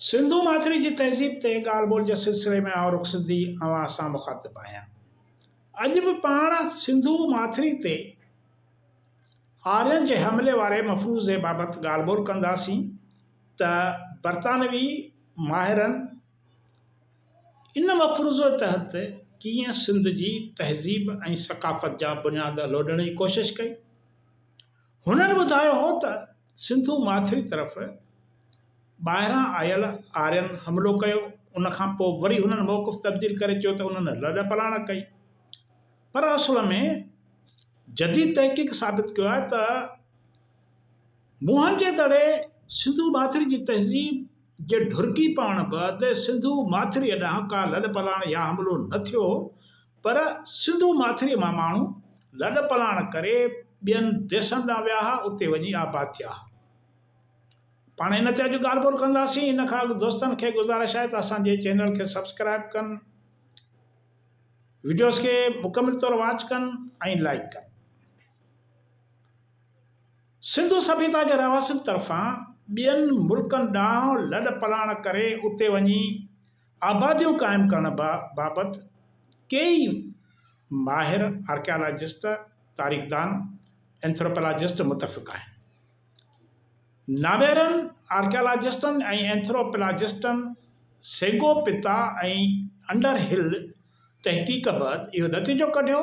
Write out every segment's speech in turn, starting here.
سنڌو ماٿري جي تهذيب تي ڳالهه ٻولهه جي سلسلي ۾ آئون رخسندي اوهان سان مخاطب آهيان. اڄ به پاڻ سنڌو ماٿري تي آرين جي حملي واري مفروضي بابت ڳالهه ٻولهه ڪنداسين ته برطانوي ماهرن ان مفروضي تحت ڪيئن سنڌ جي تهذيب ۽ ثقافت جا بنياد لوڏڻ جي ڪوشش ڪئي. هنن ٻڌايو هو ته. سنڌو ماٿري طرف ٻاهران آيل آرين حملو ڪيو، ان کان پوء وري هنن موقف تبديل ڪري چيو ته انهن لڏ پلاڻ ڪئي. پر اصل ۾ جديد تحقيق ثابت ڪيو آهي ته موهن جي دڙي سنڌو ماٿري جي تهذيب جي ڍرڪي پوڻ بعد سنڌو ماٿريء ڏانهن ڪا لڏ پلاڻ يا حملو نه ٿيو هو، پر سنڌو ماٿريء مان ماڻهو لڏ پلاڻ ڪري ٻين ديسن ڏانهن ويا ها، اتي وڃي آباد ٿيا ها. پاڻ هن تي اڄ ڳالهه ٻولهه ڪنداسين، ان کان اڳ دوستن کي گذارش آهي ته اسان جي چينل کي سبسڪرائيب ڪن، وڊيوز کي مڪمل طور واچ ڪن ۽ لائيڪ ڪن. سنڌو سڀيتا جي رهواسين طرفان ٻين ملڪن ڏانهن لڏ پلاڻ ڪري اتي وڃي آباديون قائم ڪرڻ بابت ڪيئي ماهر آرڪيالاجسٽ، تاريخدان، اينٿروپلاجسٽ متفق آهن. ناويرن آرڪيالاجسٽن ۽ اينٿروپلاجسٽن سيگو پتا ۽ انڊر هل تحقيق بعد اهو نتيجو ڪڍيو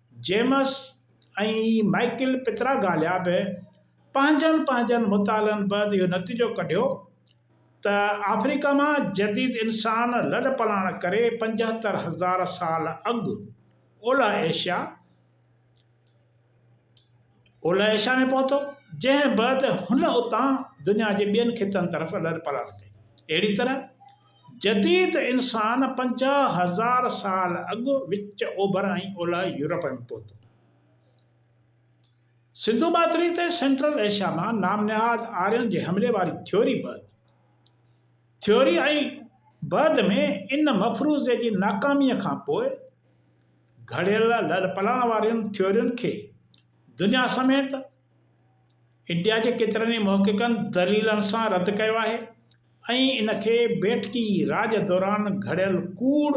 جيمس ۽ مائيڪل پتراگاليا به پنهنجن پنهنجن مطالعن بعد اهو نتيجو ڪڍيو ته آفريڪا مان جديد انسان لڏپلاڻ ڪري پنجهتر هزار سال اڳ اولهه ايشيا Eurasia اولهه ايشيا ۾ پهتو جنهن بعد هن اتان دنيا جي ٻين خطن طرف لڏپلاڻ ڪئي اهڙي طرح جديد انسان پنجاهه هزار سال اڳ وچ اوڀر ۽ اولهه يورپ ۾ پهتو. سنڌو ماٿري تي سينٽرل ايشيا مان نام نهاد آرين جي حملي واري ٿيوري بعد ٿيوري ۽ بعد ۾ ان مفروضي جي ناڪاميء کان پوء گهڙيل لڏپلاڻ وارين ٿيورين کي دنيا سميت انڊيا جي ڪيترن ئي محققن دليلن سان رد ڪيو آهي ۽ ان کي بيٺڪي راڄ دوران گهڙيل ڪوڙ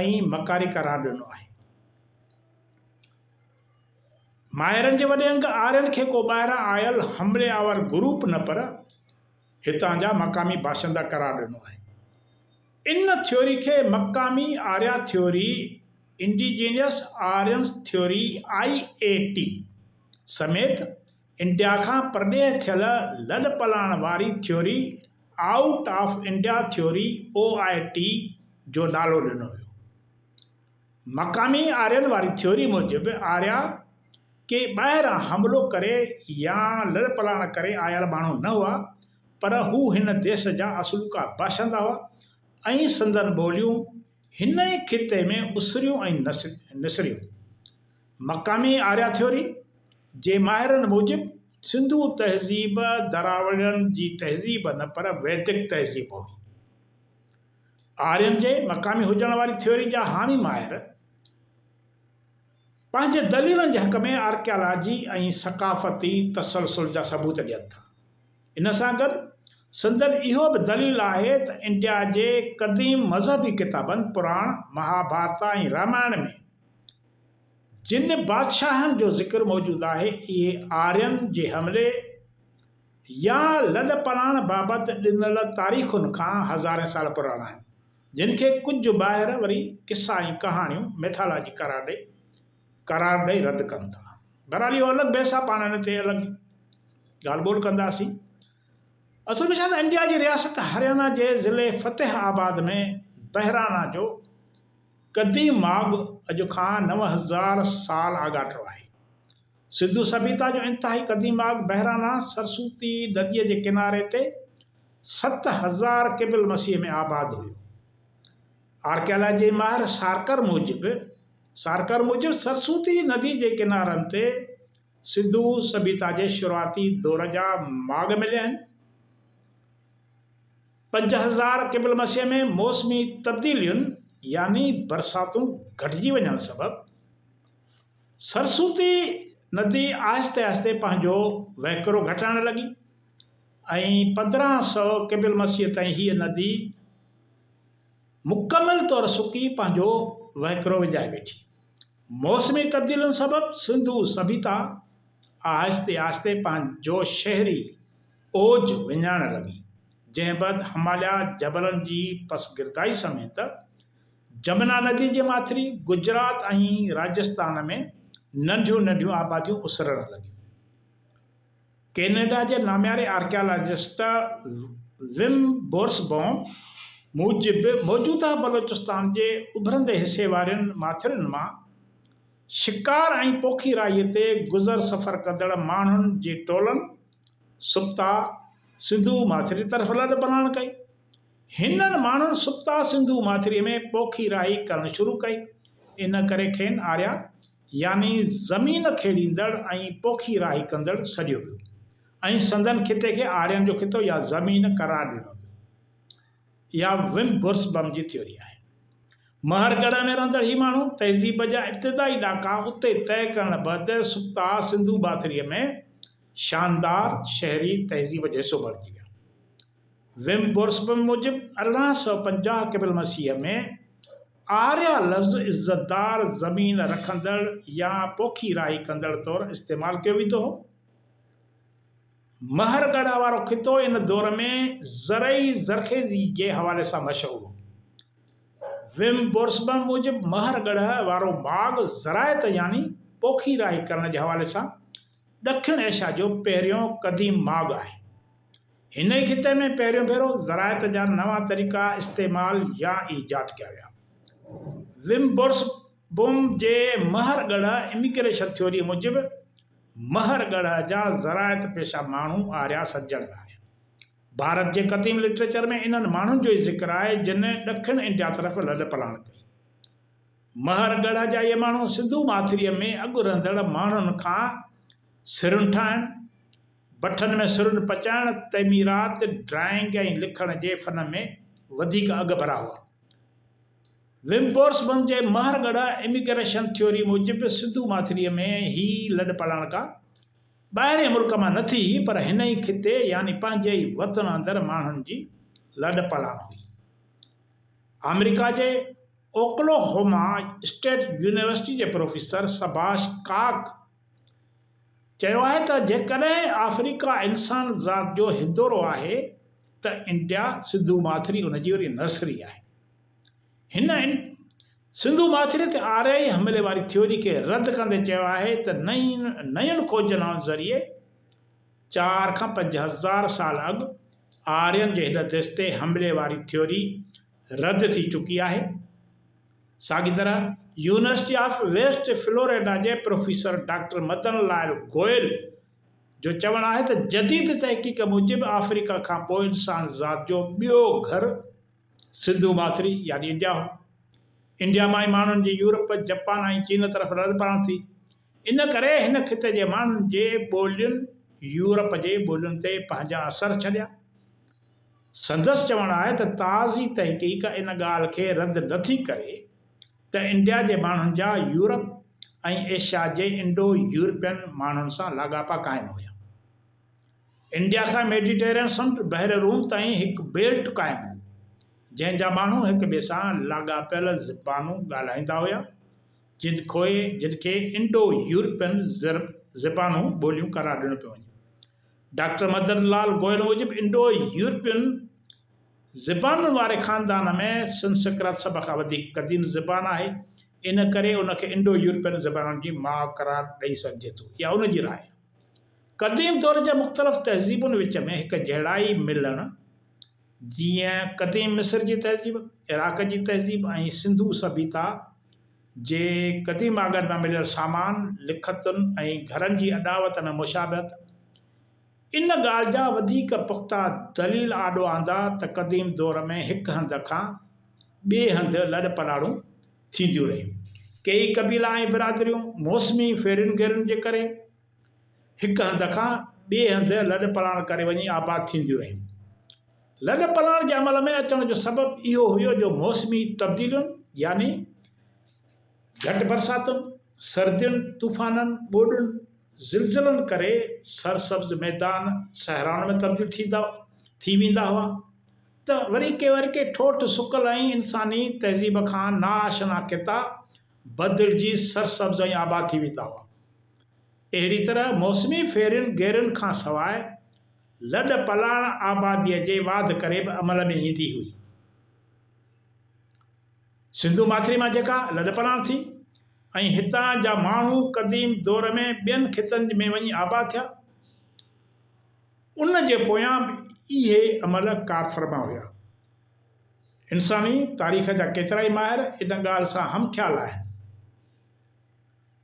۽ مڪاري قرار ڏنو آهي. ماهرن جي وڏي انگ آرين کي ڪو ٻاهران آيل حملي آور گروپ نه پر هتان جا مقامي باشندا قرار ڏنو آهي. ان ٿيوري کي مقامي Arya theory, Indigenous Aryans Theory، IAT، سميت انڊيا کان پرڏيهه ٿيل لڏ پلاڻ واري theory, Out of India Theory، OIT، جو نالو ڏنو ويو. مقامي آرين واري ٿيوري موجب آريا ڪي ٻاهران حملو ڪري يا لڏپلاڻ ڪري آيل ماڻهو نه هئا پر هو هن ديس جا اصلوڪا باشندا هئا ۽ سندن ٻوليون هن ئي خطي ۾ اسريون ۽ نسريون. مقامي آريا ٿيوري جي ماهرن موجب سنڌو تهذيب دراوڙين جي تهذيب نه پر ويدڪ تهذيب هئي. آرين جي مقامي هجڻ واري ٿيوري جا حامي ماهر پنهنجي دليلن جي حق ۾ آرڪيالاجي ۽ ثقافتي تسلسل جا ثبوت ڏين ٿا. ان سان گڏ سندن اهو به دليل آهي ته انڊيا جي قديم مذهبي ڪتابن پراڻ، مهاڀارتا ۽ رامائڻ ۾ جن بادشاهن جو ذڪر موجود آهي اهي آرين جي حملي، يا لڏپلاڻ بابت ڏنل تاريخن کان هزارين سال پراڻا آهن، جن کي ڪجهه ماهر وري قصا ۽ ڪهاڻيون، Mythology، قرار ڏئي قرار ڏئي رد ڪن ٿا. بهرحال اهو الڳ بحث آهي، پاڻ ان تي الڳ ڳالهه ٻولهه ڪنداسين. اصل ۾ ڇا ته انڊيا جي رياست هريانا جي ضلعي فتح آباد ۾ بهرانا جو قديم ماڳ اڄ کان نو هزار سال آڳاٽو آهي. سنڌو سڀيتا جو انتهائي قديم آگ بحرانا سرسوتي نديء جي ڪناري تي ست هزار قبل مسيح ۾ آباد هيو. آرڪيالاجي ماهر سارڪر موجب Sarkar موجب سرسوتي ندي جي ڪنارن تي سنڌو سڀيتا جي شروعاتي دور جا ماڳ مليا آهن. پنج هزار قبل مسيح ۾ موسمي تبديلين يعني برساتون گهٽجي وڃڻ سبب، سرسوتي ندي آهستي آهستي پنهنجو وهڪرو گهٽائڻ لڳي ۽ پندرهن سؤ قبل المسيح تائين هيء ندي مڪمل طور سڪي پنهنجو وهڪرو وڃائي ويٺي. موسمي تبديلين سبب سنڌو سڀيتا آهستي آهستي پنهنجو شهري اوج وڃائڻ لڳي، جنهن بعد هماليا جبلن جي پسگردائي سميت جمنا ندي جي ماٿري گجرات ۽ راجستان ۾ ننڍيون ننڍيون آباديون اسرڻ لڳيون. ڪينيڊا جي نامياري آرڪيالاجسٽ وم بورسبوم موجب موجوده بلوچستان جي اڀرندي حصي وارين ماٿرين مان شڪار ۽ پوکي راهي تي گذر سفر ڪندڙ ماڻهن جي ٽولن سبتا سنڌو ماٿري طرف لڏ پلاڻ ڪئي هنن ماڻهن سپتا سنڌو ماٿريء ۾ پوکي راهي ڪرڻ شروع ڪئي. ان ڪري کين آريا يعني زمين کيڙيندڙ ۽ پوکي راهي ڪندڙ سڏيو ويو ۽ سندن خطي کي آرين جو خطو يا زمين قرار ڏنو ويو. اها وم بورسبم جي ٿيوري آهي. مهر ڳڙهه ۾ رهندڙ هي ماڻهو تهذيب جا ابتدائي ڏاڪا اتي طئي ڪرڻ بعد سپتا سنڌو ماٿريء ۾ شاندار شهري تهذيب جو حصو بڻجي ويا. ويم بورسبم موجب ارڙهن سؤ پنجاهه قبل المسيح ۾ آريا لفظ عزتدار، زمين رکندڙ يا پوکي راهي ڪندڙ طور استعمال ڪيو ويندو هو. مهر ڳڙهه وارو خطو ان دور ۾ زرعي زرخيزي جي حوالي سان مشهور هو. ويم بورسبم موجب مهر ڳڙهه وارو ماڳ زراعت يعني پوکي راهي ڪرڻ جي حوالي سان ڏکڻ ايشيا جو پهريون قديم ماڳ آهي. هن ئي خطي ۾ پهريون ڀيرو زراعت جا نوان طريقا استعمال يا ايجاد ڪيا ويا. وم بورسبوم جي مهر ڳڙهه Immigration Theory موجب، مهر ڳڙهه جا زراعت پيشه ماڻهو آريا سڄڻ ۾ آيا. ڀارت جي قديم لٽريچر ۾ انهن ماڻهن جو ئي ذڪر آهي، جن ڏکڻ انڊيا طرف لڏپلاڻ ڪئي. مهر ڳڙهه جا اهي ماڻهو سنڌو ماٿريء ۾ اڳ رهندڙ ماڻهن کان سرن ٺاهڻ، بٺن ۾ سرن پچائڻ، تعميرات، ڊرائنگ ۽ لکڻ جي فن ۾ وڌيڪ اڳڀرا هئا. ومبورسبم جي مهر ڳڙهه اميگريشن ٿيوري موجب سنڌو ماٿريء ۾ هي لڏپلاڻڪا ٻاهرئين ملڪ مان نه ٿي هئي پر هن ئي خطي يعني پنهنجي ئي وطن اندر ماڻهن جي لڏپلاڻ هئي. آمريڪا جي اوڪلاهوما اسٽيٽ يونيورسٽي جي پروفيسر سڀاش ڪاڪ چيو آهي ته جيڪڏهن آفريڪا انسان ذات جو هندورو آهي ته انڊيا سنڌو ماٿري ان جي وري نرسري آهي. هن سنڌو ماٿري تي آريائي حملي واري ٿيوري کي رد ڪندي چيو آهي ته نين کونجنائن ذريعي چار کان پنج هزار سال اڳ آرين جي هن ديس تي حملي واري ٿيوري رد ٿي چڪي آهي. ساڳي طرح يونيورسٽي آف ويسٽ فلوريڊا جي پروفيسر ڊاڪٽر مدن لال گوئل جو چوڻ آهي ته جديد تحقيق موجب آفريڪا کان پوء انسان ذات جو ٻيو گهر سنڌو ماٿري يعني انڊيا هو. انڊيا مان ئي ماڻهن جي يورپ، جپان ۽ چين طرف رڙ پرڻ ٿي. ان ڪري هن خطي جي ماڻهن جي ٻولين يورپ جي ٻولين تي پنهنجا اثر ڇڏيا. سندس چوڻ آهي ته تازي تحقيق ان ڳالهه کي رد نه ٿي ڪري ته انڊيا جي ماڻهن جا يورپ ۽ ايشيا جي انڊو يورپين ماڻهن سان لاڳاپا قائم هيا. انڊيا کان ميڊيٽيرين سمنڊ بحر روم تائين هڪ بيلٽ قائم هو، جنهن جا ماڻهو هڪ ٻئي سان لاڳاپيل زبانون ڳالهائيندا هيا، جن کوئي جن کي انڊو يورپين زبانون ٻوليون قرار ڏنو پيو وڃي. ڊاڪٽر مدن لال گوئل موجب انڊو يورپين زبانن واري خاندان ۾ سنسڪرت سڀ کان وڌيڪ قديم زبان آهي ان ڪري ان کي انڊو يورپين زبانن جي ماء قرار ڏئي سگهجي ٿو اها ان جي راء آهي. قديم دور جي مختلف تهذيبن وچ ۾ هڪ جهڙائي ملڻ، جيئن قديم مصر جي تهذيب، عراق جي تهذيب ۽ سنڌو سڀيتا جي قديم آڳن مان مليل سامان، لکتن ۽ گهرن جي اڏاوت ۽ مشابهت ان ڳالهه جا وڌيڪ پختا دليل آڏو آندا ته قديم دور ۾ هڪ هنڌ کان ٻئي هنڌ لڏ پلاڙون ٿينديون رهيون. ڪيئي قبيلا ۽ برادريون موسمي ڦيرين گهيرن جي ڪري، هڪ هنڌ کان ٻئي هنڌ لڏ پلاڻ ڪري وڃي آباد ٿينديون رهيون. لڏ پلاڻ جي عمل ۾ اچڻ جو سبب اهو هيو جو موسمي تبديلين يعني گهٽ برساتن، سردين، طوفانن، ٻوڏن، زلزلن ڪري سرسبز ميدان صحرائن ۾ تبديل ٿيندا ٿي ويندا هئا ته وري ڪي وري ڪي ٺوٺ سڪل ۽ انساني تهذيب کان ناآشنا خطا بدلجي سرسبز ۽ آباد ٿي ويندا هئا. اهڙي طرح موسمي ڦيرين گيرين کان سواء لڏ پلاڻ آباديء جي واڌ ڪري به عمل ۾ ايندي هئي. سنڌو ماٿري مان جيڪا لڏ پلاڻ ٿي ۽ هتان جا ماڻهو قديم دور ۾ ٻين خطن ۾ وڃي آباد ٿيا، ان جي پويان به اهي عمل ڪارفرما هيا. انساني تاريخ جا ڪيترائي ماهر ان ڳالهه سان همخيال آهن.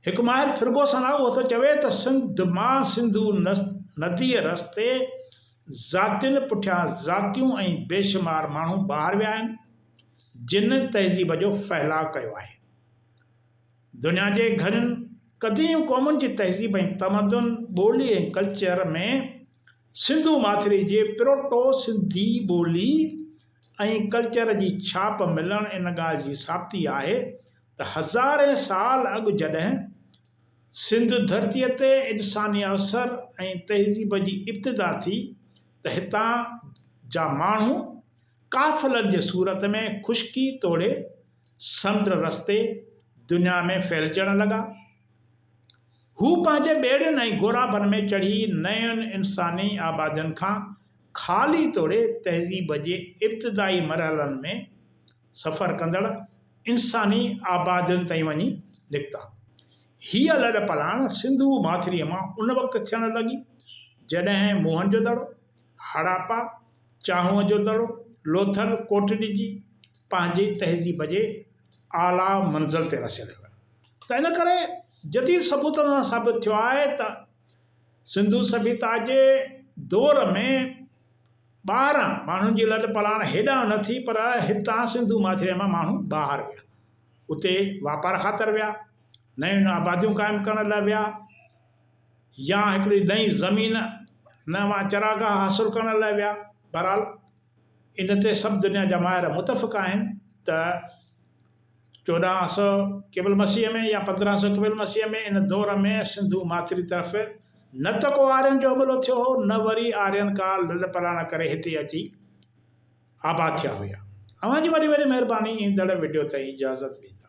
هڪ ماهر فرقو سنا اهو ٿو چوي ته سنڌ مان سنڌو نديء رستي ذاتين پٺيان ذاتيون ۽ بيشمار ماڻهو ٻاهر ويا آهن، جن تهذيب جو ڦهلاء ڪيو آهي. دنيا جي گهڻين قديم قومن جي تهذيب ۽ تمدن، ٻولي ۽ ڪلچر ۾ سنڌو ماٿري جي پروٽو سنڌي ٻولي ۽ ڪلچر جي ڇاپ ملڻ ان ڳالهه جي ثابتي آهي ته هزارين سال اڳ جڏهن سنڌ ڌرتيء تي انساني اثر ۽ تهذيب جي ابتدا ٿي ته هتان جا ماڻهو قافلن جي صورت ۾ خشڪي توڙي سمنڊ رستي دنيا ۾ ڦهلجڻ لڳا. هو پنهنجي ٻيڙين ۽ غورابن ۾ چڙهي نين انساني آبادين کان خالي توڙي تهذيب جي ابتدائي مرحلن ۾ سفر ڪندڙ انساني آبادين تائين وڃي نڪتا. هيء لڏپلاڻ سنڌو ماٿريء مان ان وقت ٿيڻ لڳي، جڏهن موهن جو دڙو، هڙاپا، چانهوء جو دڙو، لوٿل، ڪوٽڏجي، پنهنجي تهذيب جي اعليٰ منزل تي رسيل هيو ته ان ڪري جديد ثبوتن سان ثابت ٿيو آهي ته سنڌو سڀيتا جي دور ۾ ٻاهران ماڻهن جي لڏ پلاڻ هيڏانهن نه ٿي پر هتان سنڌو ماٿريء مان ماڻهو ٻاهر ويا. اتي واپار خاطر ويا، نيون آباديون قائم ڪرڻ لاء ويا يا هڪڙي نئين زمين، نوان چراگاهه حاصل ڪرڻ لاء ويا. بهرحال ان تي سڀ دنيا جا ماهر متفق آهن ته. چوڏهن سؤ قبل مسيح ۾ يا پندرهن سؤ قبل مسيح ۾ ان دور ۾ سنڌو ماٿري طرف نه ته ڪو آرين جو حملو ٿيو هو نه وري آرين ڪا لڏپلاڻ ڪري هتي اچي آباد ٿيا هيا. اوهان جي وڏي وڏي مهرباني ايندڙ وڊيو تائين اجازت ڏيندا.